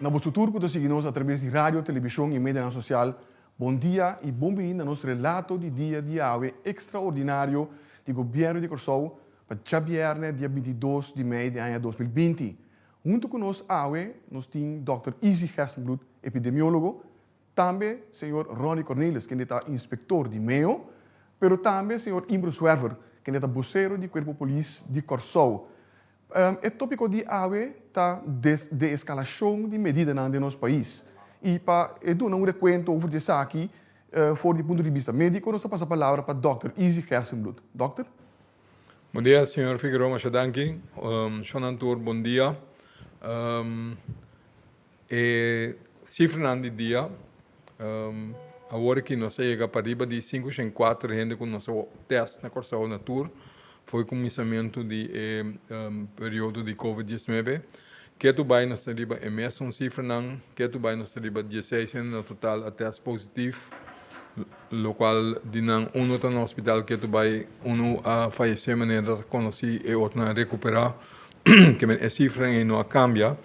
Na boso tur cu ta sigui nos atraves di radio, television y medianan social, bon dia y bon bini na nos Relato di Dia di Yahwe Extraordinario di Gobierno di Corsou pa djabierne dia bintidos di mei di aña dos mil binti. Hunto cu nos awe nos tin Dòkter Izzy Gerstenbloed, epidemiologo, tambe Señor Ronnie Cornelis, kende ta inspector di Mayo, pero tambe Señor Imbro Zwerver, kende ta bocero di Cuerpo Polis di Corsou. E tópiko di awe ta deeskalashon di medidanan den nos pais. I pa e duna un rekuento over di esaki for di punto di bista médiko, nos ta pasa palabra pa dòkter Izzy Gerstenbloed. Dòkter. Bon dia, señor Figueroa. Masha danki. Shonnan tur bon dia. E sifranan di dia awor aki nos a yega pa riba di sinku shen kuater di hende ku nos a test na Kòrsou na tur for kuminsamentu di e periodo di covid dieznuebe. Ketu bai nos ta riba e mesun sifranan, ketu bai nos ta riba dieseis hende na total a test positif, lokual di nan unu ta na hospital ketu bai unu a fayesé manera ta konosí e otro nan a rekuperá. ke men e sifra ei no a kambia,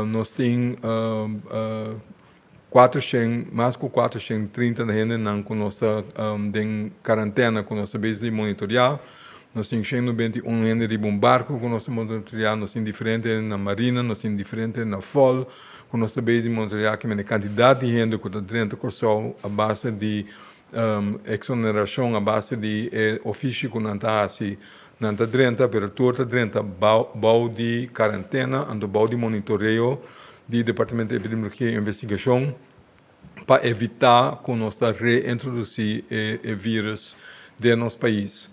nos tin kuatrushen, mas ku kuatrushen i trinta di hendenan ku nos ta den karantena ku nos ta bes di monitorea, nos tin shen nubenta i un hende riba un barku ku nos ta monitorea, nos tin diferente hende na marina, nos tin diferente hende na fol ku nos ta bes di monitorea kimen e kantidat di hende ku ta drenta Kòrsou a base di. Exoneracion a base di e ofishi cu nan ta haci, nan ta drenta pero tur ta drenta bao di carantena anto bao di monitoreo di Departamento di Epidemiologia y Investigacion pa evita cu nos ta reintroduci e virus den nos pais.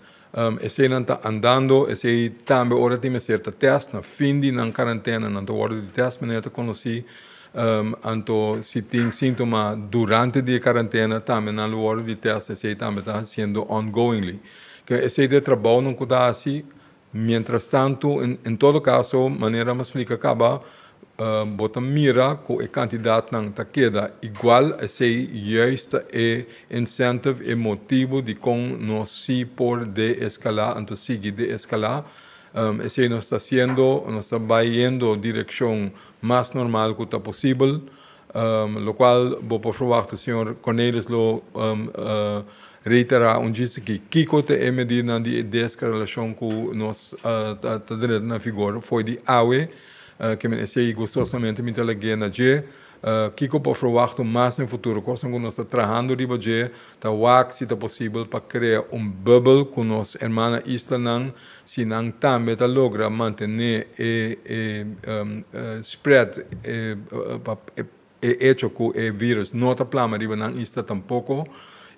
Eseinan ta andando, esei tambe ora tin mester ta test, na fin di nan karantena nan ta wordo di test, manera ta konosí, anto si tin síntoma durante di e karantena tambe nan lo wordo di test, esei tambe ta hasiendo ongoingly. Ke esei ta e trabounan ku ta hasi, mientrastantu, en todo kaso, manera mi a splika kaba, Bo ta mira ku e kantidatnan ta keda igual, esei juist ta e incentive, e motibu dikon nos si por deeskalá, anto sigui deeskalá. Esei nos ta hasiendo, nos ta bai yendo direkshon mas normal ku ta posibel, lokual bo por ferwakta señor Cornelis lo reiterá un djis aki kiko ta e medidanan di e deeskalashon ku nos ta drenta na vigor fo'i di awe. Ke mi ta esei gustosamente mi ta lag'é na dje. Kiko por ferwachta mas den futuro? Kosnan ku nos ta trahando riba dje ta wak si ta posibel pa krea un bubbel ku nos herman na islanan, si nan tambe ta logra mantené e spread, E echo cu e virus no ta plama riba nan isla tampoco.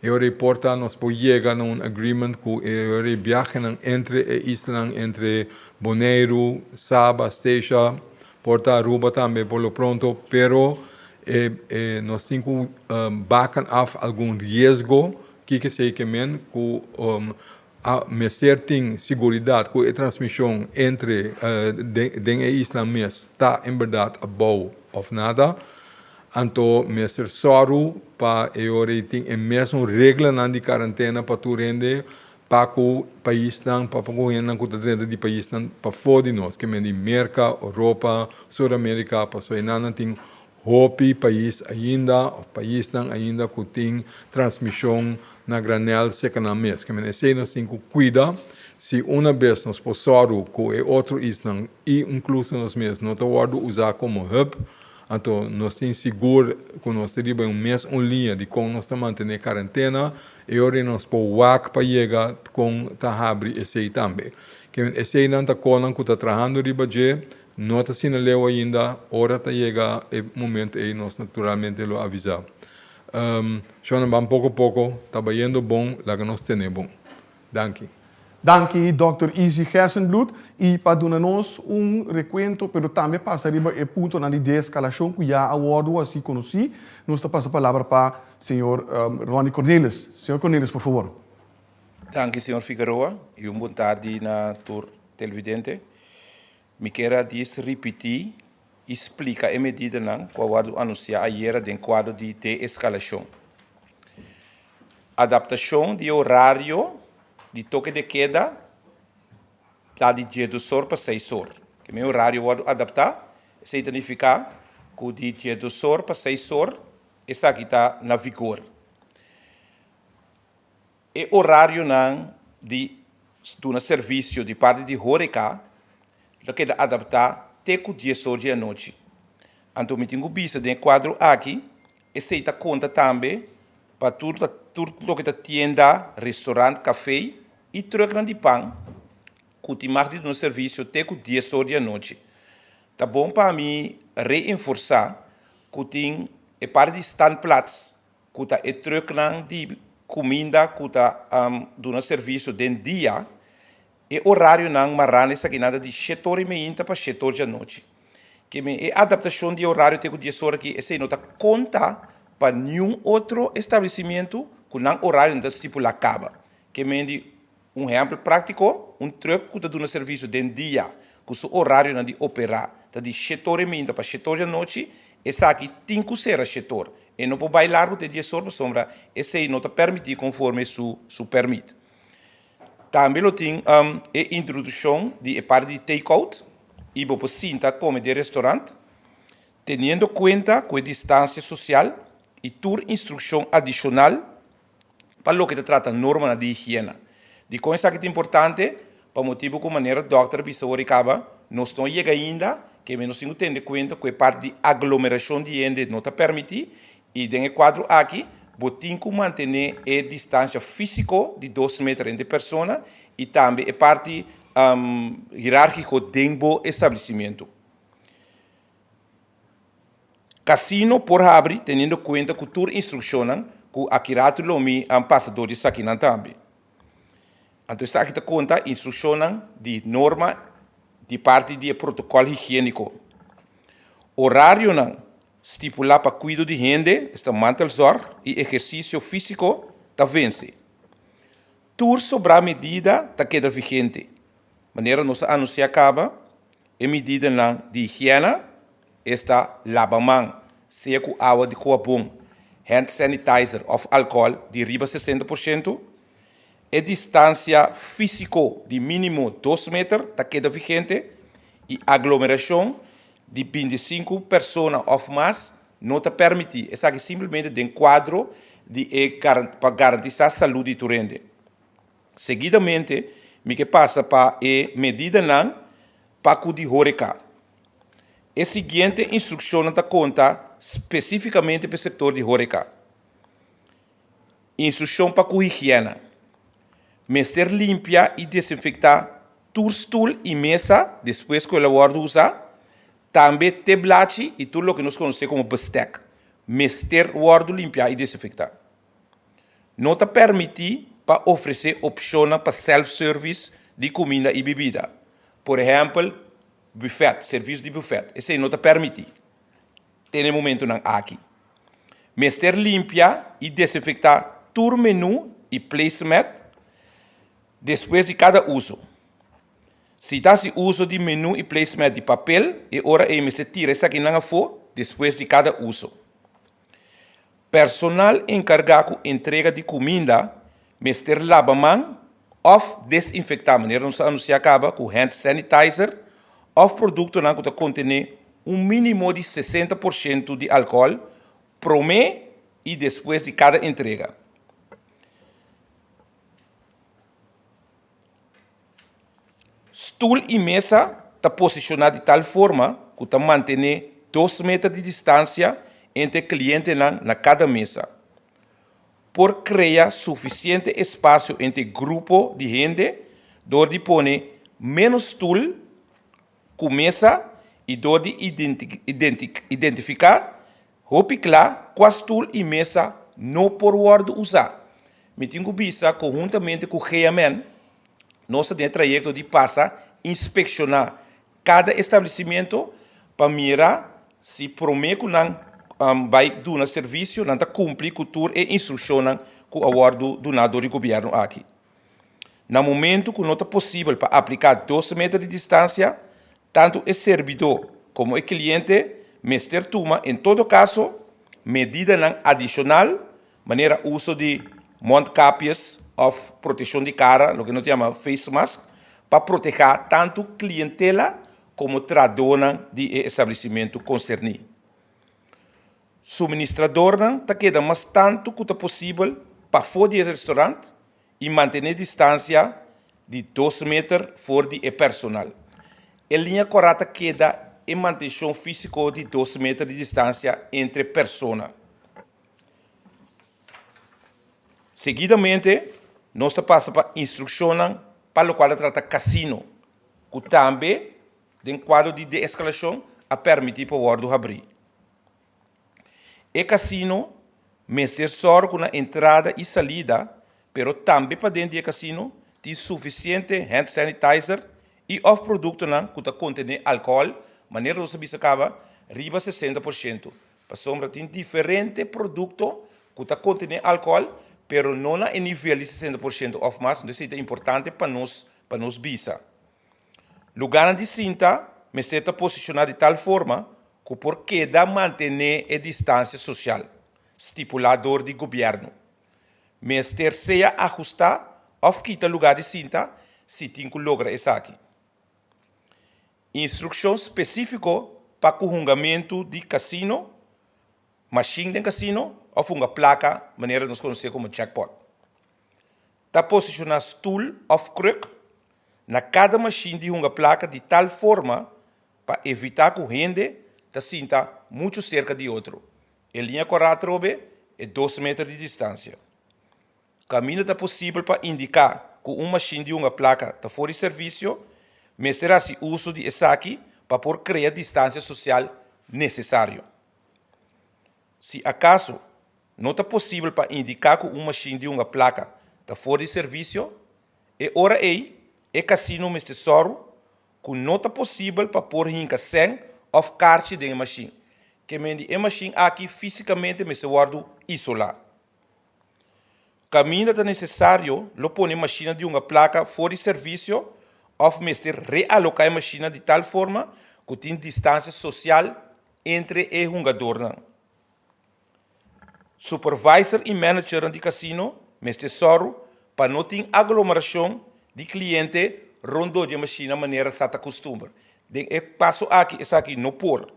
E ora ei por ta nos por yega na un agreement cu e ora ei biahenan entre e islanan entre Boneiru, Saba, Statia, por ta Aruba tambe por lo pronto, pero e e nos tin cu baken af algun riesgo kikisey ke men cu A mester tin siguridat ku e transmishon entre den e isla mes ta en berdad abou òf nada. Anto mester sòru pa e ora ei tin e mesun reglanan di karantena pa tur hende pa ku paisnan, pa ku hendenan ku ta drenta di paisnan pafó di nos, ke mende Merka, Oropa, Sur Amerika, pasobra einan nan tin Hopi pais ainda of paisnan ainda cu tin transmision na granel secanan mes. Caminda esey nos tin cu cuida. Si una bes nos por sorgo cu e otro isnan y incluso nos mes no ta wordo usa como hub, anto nos tin sigur cu nos ta riba un mes un liña di con nos ta mantene carantena, e ora nos por wak pa yega con ta habri esey tambe. Caminda eseynan ta conan cu ta trahando riba dje. No ta asina leu ainda, ora ta yega e momento ey nos naturalmente lo avisa. Shonnan ban poco poco, ta bayendo bon, laga nos tene bon. Danki. Danki Dòkter Izzy Gersenbloed y pa duna nos un recuento pero tambe pasa riba e puntonan di deescalacion cu ya a wordo haci conoci. Nos ta pasa palabra pa Señor Ronnie Cornelis. Señor Cornelis por favor. Danki señor Figueroa y un bon tardi na tur televidente. Mi kier a dis ripiti y splica e medidanan cu a wordo anuncia ayera den cuadro di de-escalacion. Adaptacion di e horario di toque de queda ta di diesdos or pa seis or. Kier mi e horario wordo adapta esey ta nifica cu di diesdos or pa seis or esaki ta na vigor. e orarionan di duna servisio di parti di horeca lo keda adaptá te cu dies or di anochi. Anto mi tin cu bisa den e cuadro aki, esey ta conta tambe pa tur tur loke ta tienda, restaurant, café y trucknan di pan cu tin mag di duna servisio te cu dies or di anochi. Ta bon pa mi reenforsá cu tin e parti di standplaats ku ta e truknan di kuminda ku ta duna servisio den dia, e orarionan mará na esaki nada di shet ora i meinta pa shet ora di anochi. Keme e adaptashon di e orario te ku dies ora aki esei no ta konta pa niun otro establesimentu ku nan orario no ta stipulá kaba. Ke men di Un ehèmpel práktiko, un trùk ku ta duna servisio den dia ku su orarionan di operá ta di shetor e minta pa shetor di anochi, esaki tin ku sera shetor. E no por bai largu te diesor pasobra esei no ta permití konforme su su pèrmit. Tambe lo tin e introdushon di e parti di take-out i bo por sinta kome den restorant, teniendo kuenta ku e distansia sosial i tur instrukshon adishonal. pa loke ta trata normanan di higiena. Dikon esaki ta importante? Pa motibu ku manera dòkter a bisa ora i kaba, nos no a yega ainda, keme nos tin ku tende kuenta ku e parti di aglomerashon di hende no ta permití. I den e kuadro akí bo tin ku mantené e distansha físiko di dos meter entre persona i tambe e parti hirárkiko den bo establesimentu. Casino por habri teniendo cuenta cu tur instruccionnan cu aki rato lo mi a pasa door esakinan tambe. Anto esaki ta conta instruccionnan di norma di parti di e protocol higienico. Horarionan stipula pa cuido di hende, esta mantelzorg y ehercicio fisico, ta venci. Tur sobrá medida ta keda vigente. Manera nos a anunsiá kaba, e medidanan di higièna esta, laba man, sea ku awa di koa bon, hand sanitizer òf alkohòl di riba sesenta por siento, e distansia físiko di mínimo dos meter ta keda vigente i aglomerashon di binti sinku persona òf mas, No ta permití esaki simplemente den kuadro di e pa garantisá salú di tur hende. Seguidamente mi ke pasa pa e medidanan pa ku di hóreka. E siguiente instrukshonnan ta konta spesífikamente pa e sektor di hóreka. Instrukshon pa ku higièna, Mester limpia i desinfektá tur stul i mesa despues ku el a wòrdu usá. Tambe te blachi y tur loke nos conoce como bestek mester wordo limpia y desinfecta. No ta permiti pa ofrece opcionnan pa self-service di cuminda y bibida, por ehempel buffet, servicio di buffet, esey no ta permiti den e momentonan aki. Mester limpia y desinfecta tur menu y placemat despues di cada uso. Si ta hasi uso di menu i placemat di papel, e ora ei mester tira esakinan afó despues di kada uso. Personal enkargá ku entrega di kuminda mester laba man òf desinfektá, manera nos a anunsiá kaba ku hand sanitizer òf produktonan ku ta kontené un mínimo di sesenta por shento di alkohòl promé i despues di kada entrega. Stul i mesa ta posishoná di tal forma ku ta mantené dos meter di distansia entre klientenan na kada mesa. Por krea sufisiente espasio entre grupo di hende dor di pone ménos stul ku mesa i dor di identifiká Hopi kla ku a stul i mesa no por wòrdu usá. Mi tin ku bisa ku huntamente ku GMN nos ta den e trayekto di pasa inspekshoná kada establesimentu pa mira si promé ku nan bai duna servisio nan ta kumpli ku tur e instrukshonnan ku a wòrdu duná dor e gobièrnu aki. Na momentu ku no ta posibel pa apliká dos meter di distansia, tantu e serbidó komo e kliente mester tuma, en todo kaso, medidanan adishonal, manera uso di mondkapjes òf proteshon di kara, loke no ta yama face mask, pa protehá tantu klientela komo trahadónan di e establesimentu konserní. Suministradornan ta keda mas tantu ku ta posibel pafó di e restorant i mantené distansia di dos meter for di e personal. E liña kòrá ta keda e mantenshon físiko di dos meter di distansia entre persona. Seguidamente nos ta pasa pa instrukshonnan pa lokual ta trata kasino ku tambe. den kuadro di de-eskalashon a pèrmití pa wòrdu habrí. E kasino mester sòru ku na entrada i salida, pero tambe pa den di e kasino, tin sufisiente hand sanitizer i òf produktonan ku ta kontené alkohòl, manera nos a bisa kaba, riba sesenta por shento. Pasobra tin diferente produkto ku ta kontené alkohòl, pero no na e nivel di sesenta por shento òf mas, entonces ei ta importante pa nos pa nos bisa. Lugarnan di sinta mester ta posishoná di tal forma ku por keda mantené e distansia sosial stipulá dor di gobièrnu. Mester sea ahustá òf kita lugá di sinta si tin ku logra esaki. Instrukshon spesífiko pa ku hungamentu di kasino, mashin den kasino òf hunga plaka manera nos konosé komo jackpot. Ta posishoná stoel òf kruk na kada mashin di hunga plaka di tal forma pa evitá ku hende ta sinta muchu serka di otro. E liña korá atrobe e dos meter di distansia. Kaminda ta posibel pa indiká ku un mashin di hunga plaka ta for di servisio, mester hasi uso di esaki pa por krea distansia sosial nesesario. Si akaso. No ta posibel pa indiká ku un mashin di hunga plaka ta for di servisio, e ora ei e kasino mester sòru ku no ta posibel pa por hinka sèn òf karchi den e mashin. Kemendi e mashin aki físikamente mester wòrdu isolá. Kaminda ta nesesario lo pone e mashinnan di hunga plaka for di servisio òf mester realoká e mashinnan di tal forma ku tin distansia sosial entre e hungadornan. Supervisor i managernan di casino mester sòru pa no tin aglomeracion di cliente rondó dje mashina manera sa ta costumber. Den e paso aki esaki no por.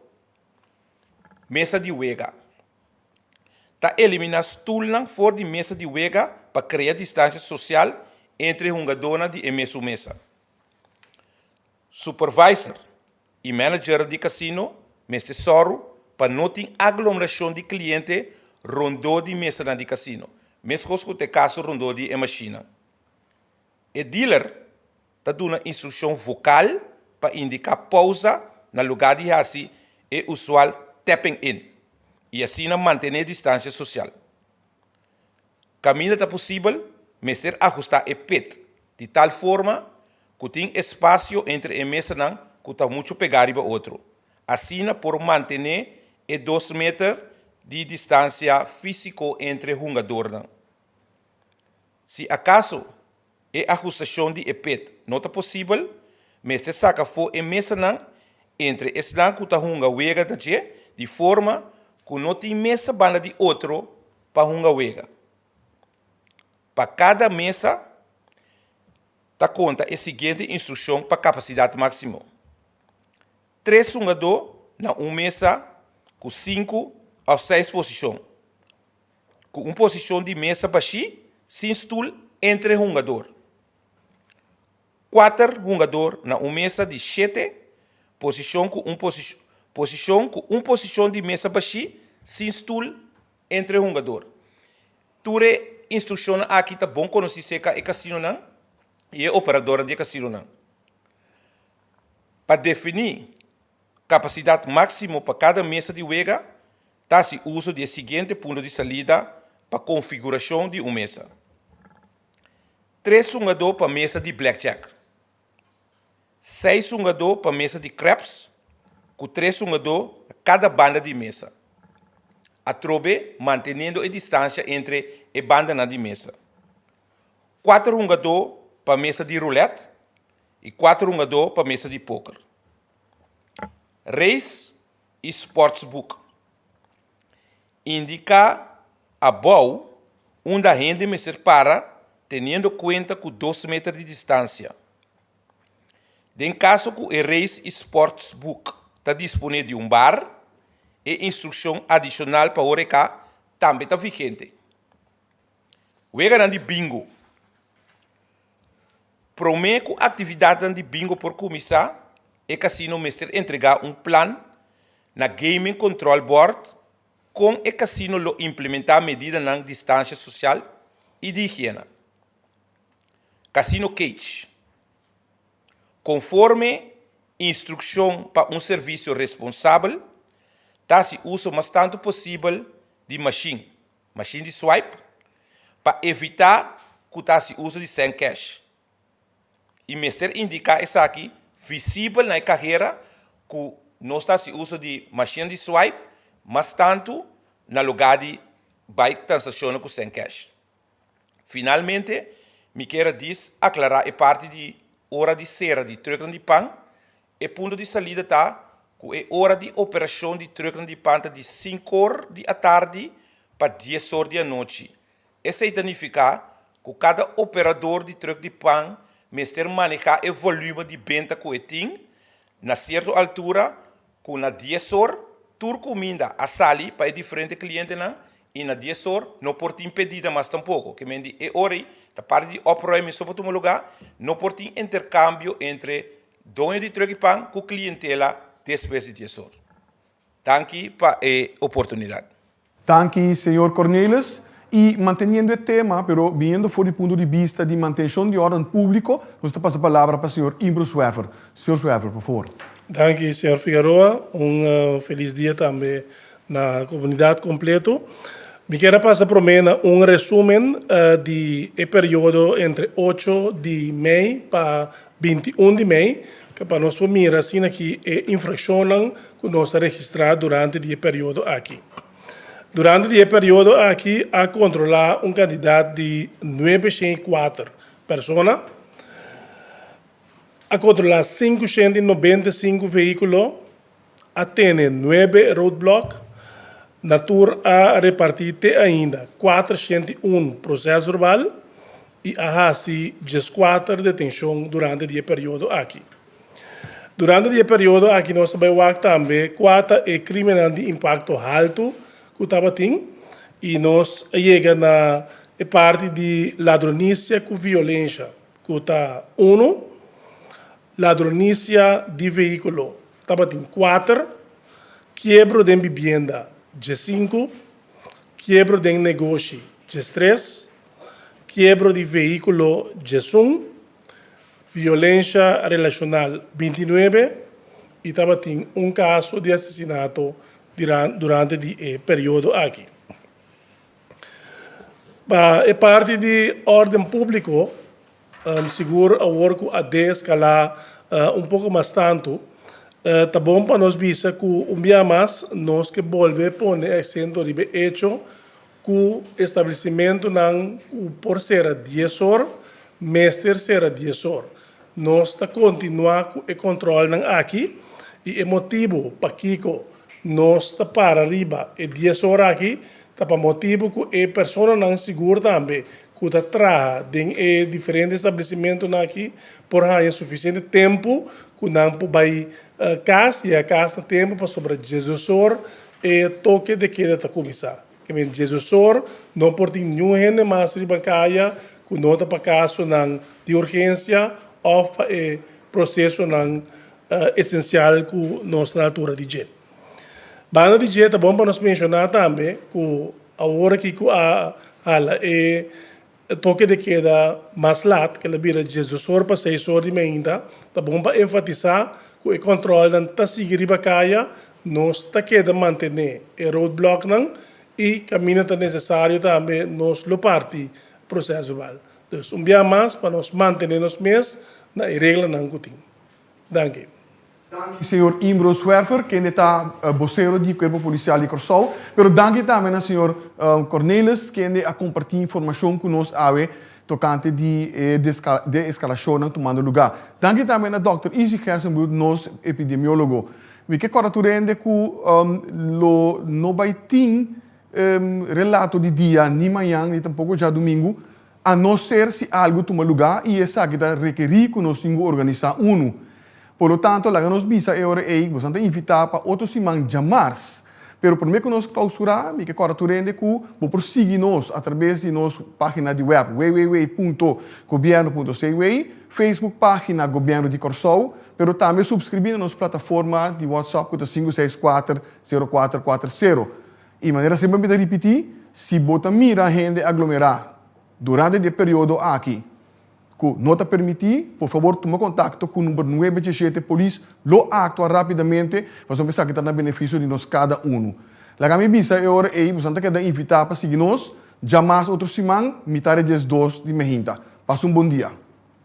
Mesa di wega. Ta elimina stoelnan for di mesa di wega pa crea distancia social entre hungadónan di e mesun mesa. Supervisor i manager di casino mester sòru pa no tin aglomeracion di cliente rondó di mesanan di casino, mescos cu ta e caso rondó di e mashinan. E dealer ta duna instruccion vocal pa indica pausa na lugar di haci e usual tapping-in i asina mantene distancia social. Kaminda ta posibel, mester ahustá e pit di tal forma ku tin espasio entre e mesanan ku ta muchu pegá riba otro, asina por mantené e dos meter di distansia físiko entre hungadornan. Si akaso. E ahustashon di e pet no ta posibel, mester saka afó e mesanan entre esnan ku ta hunga wega na dje di forma ku no tin mesa banda di otro pa hunga wega. Pa kada mesa ta konta e siguiente instrukshon pa kapasidat máksimo, tres hungadó na un mesa ku sinku òf seis posishon. cu un posicion di mesa bashi sin stoel entre hungador. Cuater hungador na un mesa di shete posicion cu un posicion cu un posicion di mesa bashi sin stoel entre hungador. Tur e instruccionnan aki ta bon conoci seca e casinonan y e operadoran di e casinonan. Pa defini capacidad maximo pa cada mesa di wega, Ta hasi uso di e siguiente punto di salida pa konfigurashon di un mesa, tres sungadó pa mesa di blackjack, seis sungadó pa mesa di craps ku tres sungadó kada banda di mesa, atrobe mantenendo e distansia entre e bandanan di mesa, kuater hungadó pa mesa di roulette i kuater hungadó pa mesa di póker. Reis. E sportsboek. Indica abou unda hende mester para teniendo cuenta cu dos meter di distancia. Den caso cu e reis y sportsboek ta dispone di un bar, e instruccion adicional pa horeca tambe ta vigente. Weganan di Bingo. Promé ku aktividatnan di bingo por kuminsá, e kasino mester entregá un plan na Gaming Control Board kon e kasino lo implementá medidanan di distansia sosial i di higiena. Kasino Cage, Konforme instrukshon pa un servisio responsabel, ta hasi uso mas tantu posibel di mashin. Mashin di swipe pa evitá ku ta hasi uso di Cent Cash. I mester indiká esaki visibel na e kahera ku nos ta hasi uso di mashinnan di swipe, mas tantu na lugá di bai transakshonnan ku Cent Cash. Finalmente, mi kier a disaklará e parti di ora di sera di trùknan di pan E punto di salida ta cu e ora di operacion di trucknan di pan ta di sincor di atardi pa diesor di anochi. Esey ta nifica cu cada operador di truck di pan mester maneha e volume di benta cu e tin na cierto altura cu na diesor tur cuminda a sali pa e diferente clientenan y na diesor no por tin pedida mas tampoco. Ke men di e ora ey ta parti di oproy misto por tuma lugar, no por tin intercambio entre Doño di Truki Pan ku klientela despues di dies or. Danki pa e oportunidat. Danki señor Cornelis. Y manteniendo e tema, pero biniendo for di punto di bista di mantencion di orden publico, nos ta pasa palabra pa señor Imbro Zwerver. Señor Zwerver, por favor. Danki señor Figueroa. Un felis dia tambe na comunidad completo. Mi kier a pasa prome na un resumen di e periodo entre ocho di mei pa Binti un di mei, ta pa nos por mira asina ki e infrashonnan ku nos a registrá durante di e periodo aki. Durante di e periodo aki a kontrolá un kantidat di nuebe shent i kuater persona, a kontrolá sinku shent i nobenta i sinku veíkulo, a tene nuebe roadblock, na tur a repartí te ainda kuater shent di un proses verbal i a hasi dieskuater detenshon durante di e periodo aki. Durante di e periodo aki nos ta bai wak tambe kua ta e kriminal di impakto haltu ku tabatin i nos a yega na e parti di ladronisia ku violensha. Cu ta uno. Ladronisia di vehiculo, tabatin cuater. Kiebro den bibienda, djesinco. Kiebro den negoshi, djestres. Kiebro di vehiculo, djesun. Violencia relacional, binti nuebe. Y tabatin un caso di asesinato durante di e periodo aki. Pa e parti di órden públiko, sigur awor ku a deeskalá un poko mas tantu, ta bon pa nos bisa ku un bia mas nos ke bolbe pone asento riba e echo ku establesimentunan ku por sera dies or, mester sera dies or. Nos ta kontinuá ku e kòntròlnan aki i e motibu pakiko nos ta para riba e dies or aki Ta pa motibu ku e personanan sigur tambe ku ta traha den e diferente establesimentunan aki por haña sufisiente tempu ku nan por bai kas yega kas na tempu pasobra diasdesor e toke de keda ta kuminsá. Ta kende diasdesor no por tin niun hende mas riba kaya ku no ta pa kasonan di urgensia òf pa e prosesonan esensial ku nos na altura di dje. Banda di dje ta bon pa nos menshoná tambe ku awor aki ku a hala e toke de keda mas lat, kel a bira djes dos or pa seis or di mainta, ta bon pa enfatisá ku e kòntròlnan ta sigui riba kaya, nos ta keda mantené e roadblòknan i kaminda ta nesesario tambe nos lo parti proses verbal. Pues un biaha mas pa nos mantené nos mes na e reglanan ku tin. Danki. Danki señor Imbro Zwerver, kende ta bosero di Cuerpo Policial di Corsou. Pero danki tambe na señor Cornelis, kende a comparti informacion cu nos awe tocante di e deescalacionnan tumando lugar. Danki tambe na Dokter Izzy Gersenbloed, nos epidemiologo. Mi ke corda tur hende cu lo no bay tin relato di dia, ni mañan, ni tampoco djadomingo. a no ser si algu tuma lugá i esaki ta rekerí ku nos tin ku organisá unu. Por lo tanto, laga nos bisa e ora ei, Bosan ta invitá pa otro siman djamars, pero promé ku nos klausurá, mi ke kòrda tur hende ku bo por sigui nos atrabes di nos página di wèp www.gobierno.cw, Facebook página Gobièrnu di Kòrsou, pero tambe supskribí na nos plataforma di WhatsApp ku ta sinku seis kuater, sero kuater kuater sero. I manera semper mi ta ripití, si bo ta mira hende aglomerá durante di e periodo aki ku no ta permití, por fabor tuma kontakto ku number nuebe ch'e shete polis lo a aktua rápidamente pasobra esaki ta na benefisio di nos kada unu. Laga mi bisa e ora ei boso ta keda invitá pa sigui nos dja mas otro siman mitad di dies dos di miahinta. Pasa un bon dia.